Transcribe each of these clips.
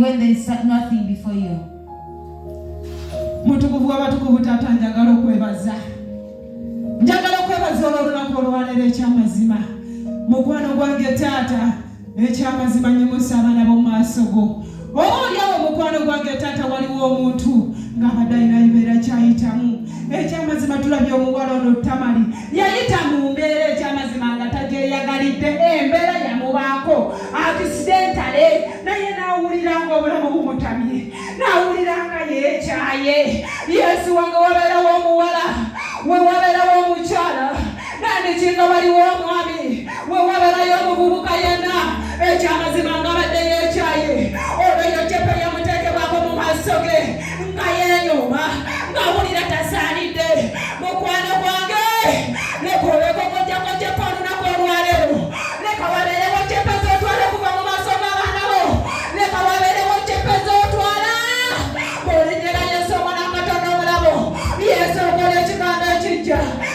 when there is nothing before you. mutukuvu w'abatukuvu taata njagala okwebaza njagala okwebaza olw'olunaku olwaleero eky'amazima mukwano gwange taata ekyamazima nyimusa abaana b'omumaaso go oba olyawo omukwano gwange taata waliwo omuntu ng'abadde alina yibeera kyayitamu ekyamazima tulabye omuwala ono tamali yayita mu mbeera ekyamazima nga tagyeyagalidde embeera yamubaako akisidentale naye n'awulira nga obulamu bumutamye n'awulira nga yeekyaye yesu wange wabeerawo omuwala we wabeerawo omukyala kandi kinga waliwo omwami wewaberayo omuvubuka yenna ekyamazima nga badde yekyaye olwo eyo cepe yamutekebwako mu maaso ge nga yenyuma ngawulira tasaanidde mukwano gwange nekoleko kojjako cepe olunaku olwaleero leka wabeerewo cepe zotwala okuva mu maaso g'abaana bo leka wabeerewo cepe zotwala bolinyera yesu omwana katono omulabo yesu okola ekigambo ekijja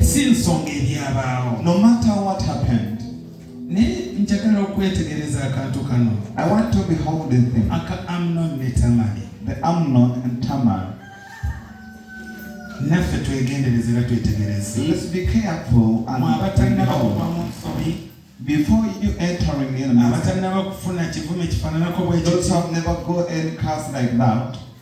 si nsonga ebyabaawo no matter what happened naye njagala okwetegereza akantu kano i want to behold the thing aka amnon ne tamari the amnon and tamar naffe twegendereze era twetegereze let's be careful and abatalina bakuba mu nsobi before you entering in abatalina bakufuna kivume kifananako bwekyo those have never go any cast like that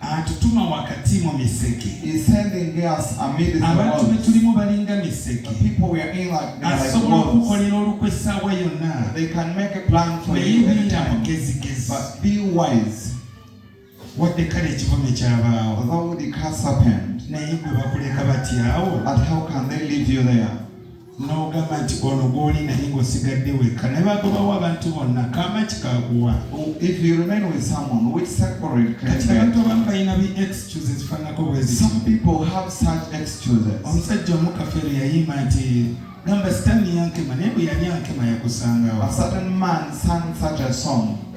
atutuma wakati mu miseke abantu be tulimu balinga miseke asobola okukolera olukwe essaawa yonna naye biira mugezigezi wadde kale ekivume kyabaawo naye gwe bakuleka batyawo n'ogamba nti ono gw'oli naye ng'osigadde wekka naye bagobawo abantu bonna kama kikaguwa kati abantu abamu balina bi excuse ezifaanako bwezimusajja omukafeero yayimba nti gamba sitaani yankema naye bwe yali ankema yakusangawo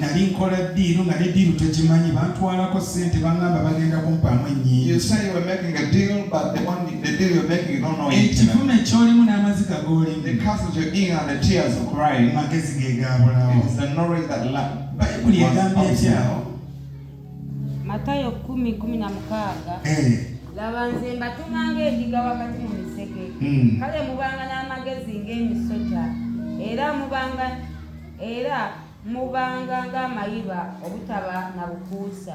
nali nkola ddiiru nga ne ddiiru tekimanyi bantwalako ssente bangamba bagenda kumpaamu ennyingiekivuma ekyolimu n'amaziga g'olimumagezi ge gaabulawo bayibuli egamba etyawo matayo 116 eh. laba nze mbatuma ng'endiga wakati mu misege hmm. kale mubanga n'amagezi ng'emisota era mubanga era mubanga ng'amayiba obutaba na bukuusa.